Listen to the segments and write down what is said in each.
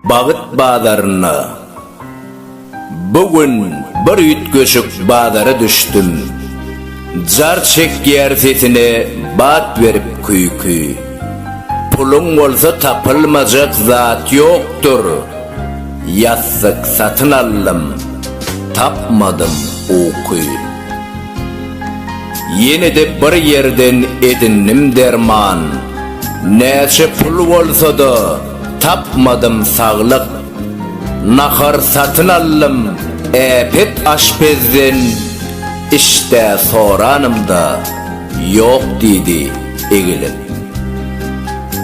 Bagyt bazarynda Bu gün bir üýtgeşik bazara düşdüm. Jar çekýär sesine bat berip küýki. Puluň bolsa tapylmajak zat ýokdur. Ýassyk satyn aldym, tapmadym uky. Ýene-de bir ýerden edindim derman, Näçe pul bolsa-da, tapmadym saglyk. Nahar satyn aldym äpet aşpezden, Iş-dä soranymda, ýok diýdi egilip.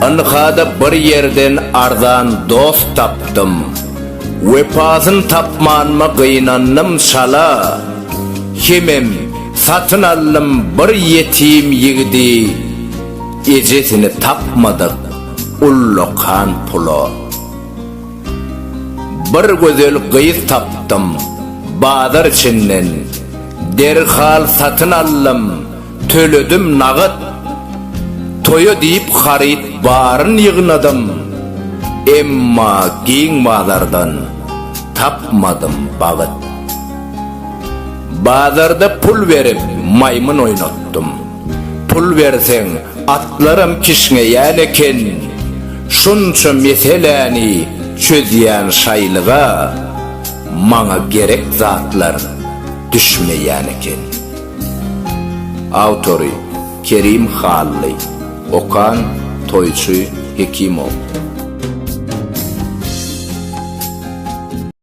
Ynha-da bir ýerden arzan dost tapdym, Wepasyn tapmanyma gynandym çala. Hemem satyn aldym bir ýetim ýigidi Ejesini tapmadyk ullakan pula Bir gözel gyz tapdym bazar içinden Derhal satyn aldym Töledim nagat. Toýa diýip haryt baryn ýygnadym. Emma giň bazardan tapmadym bagyt. Bazarda pul berip maýmyn oýnatdym. Pul berseň atlaram kişňeýän eken. Şunça meseläni çözýän şaýlyga maňa gerek zatlar düşmeýän eken. Awtory, Kerim Hally. Okan, Toýçy Hekimow.